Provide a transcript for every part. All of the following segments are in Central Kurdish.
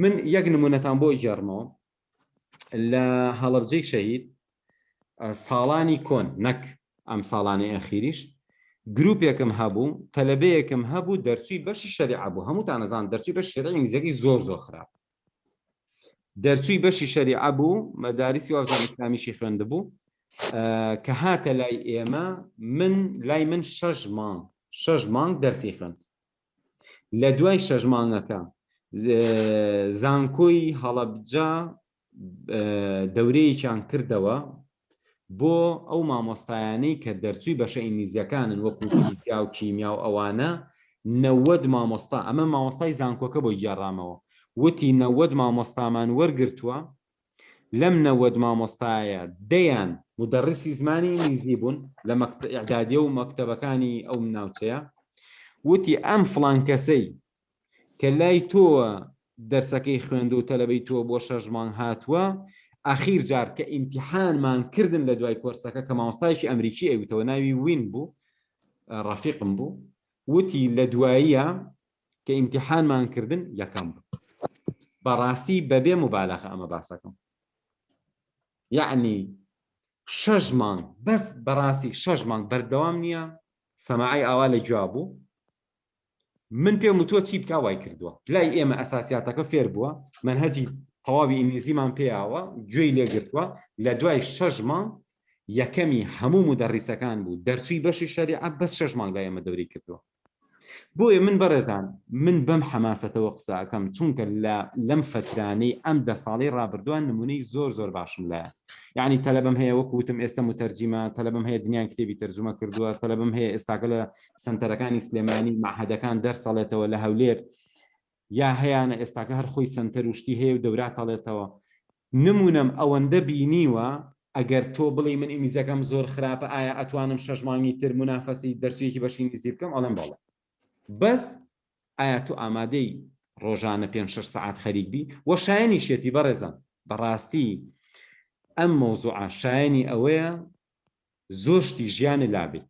من یەک نمونەتان بۆ گێڕمەوە لە هەڵەبجەی شەهید ساڵانی کۆن نەک ئەم ساڵانی ئەخیریش گروپێکم هەبوو تەلبەیەکم هەبوو دەرچوی بەشی شەریع بوو هەمووتان نەزان دەرچی بە شێرە ئینگلیزەکەی زۆر زۆر خراپ دەرچوی بەشی شەریع بوو مەدارسی وازان ئیسلامیشی خوێند بوو کە هاتە لای ئێمە من لای من شەش مانگ شەش مانگ دەرسی خوێند لە دوای شەش مانگەکە زانکۆی هەڵەبجە دەورەیەکیان کردەوە بۆ ئەو مامۆستایانەی کە دەرچووی بەشە ئینگلیزیەکانن وەکو فیزیا و کیمیا و ئەوانە نەوەد مامۆستا ئەمە مامۆستای زانکۆکە بۆ گێڕامەوە وتی نەوەد مامۆستامان وەرگرتووە لەم نەوەد مامۆستایە دەیان مدەڕیسی زمانی ئینگلیزی بوون لە مەکتەب ئیعدادیە و مەکتەبەکانی ئەو ناوچەیە وتی ئەم فڵان کەسەی کە لای تۆوە دەرسەکەی خوێندو و تەلەبەی تۆ بۆ شەش مانگ هاتووە ئاخیر جار کە ئیمتیحانمان کردن لە دوای کۆرسەکە کە مامۆستایەکی ئەمریکی ئەویتەوە ناوی وین بوو ڕەفیقم بوو وتی لە دواییە کە ئیمتیحانمان کردن یەکەم بوو بەڕاستی بەبێ مبالغە ئەمە باسەکەم یعنی شەش مانگ بەس بەڕاستی شەش مانگ بەردەوام نییە سەماعی ئاوا لە گوێ بوو من پێم وتوە چی بکە وای کردووە لای ئێمە ئەساسیاتەکە فێر بووە من هەجی تەواوی ئینگلیزیمان پێیاوە گوێی لێگرتووە لە دوای شەش مانگ یەکەمی هەموو مدەڕیسەکان بوو دەرچووی بەشی شەریعە بەس شەش مانگ لای ئێمە دەوری کردووە بۆیە من بەڕێزان من بەم حەماسەتەوە قسە ئەکەم چونکە لە لەم فەترانەی ئەم دە ساڵەی ڕابردووە نمونەی زۆر زۆر باشم لایە یعنی تەلەبەم هەیە وەکو وتم ئێستە متەرجیمە تەلەبەم هەیە دنیان کتێبی تەرجومە کردووە تەلەبەم هەیە ئێستاکە لە سەنتەرەکانی سلێمانی مەعهەدەکان دەرسەڵێتەوە لە هەولێر یا هەیانە ئێستاکە هەر خۆی سەنتەر و شتی هەیە و دەوراتەڵێتەوە نمونەم ئەوەندە بینیوە ئەگەر تۆ بڵێی من ئینگلیزەکەم زۆر خراپە ئایا ئەتوانم شەش مانگی تر مونافەسەی دەرچەیەکی بەشی ئینگلیزی بکەم ئەڵێم بەڵێ بەس ئایا تۆ ئامادەی ڕۆژانە پێنج شەش سەعات خەریک بی وە شایەنیشێتی بەڕێزان بەڕاستی ئەم مەوزوعە شایەنی ئەوەیە زۆر شتی ژیانە لابیت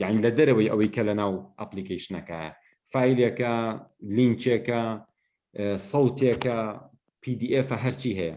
یعنی لە دەرەوەی ئەوەی کە لە ناو ئەپلیکیشنەکە فیلەکە لینکێکە سەوتێکە PDF هەرچی هەیە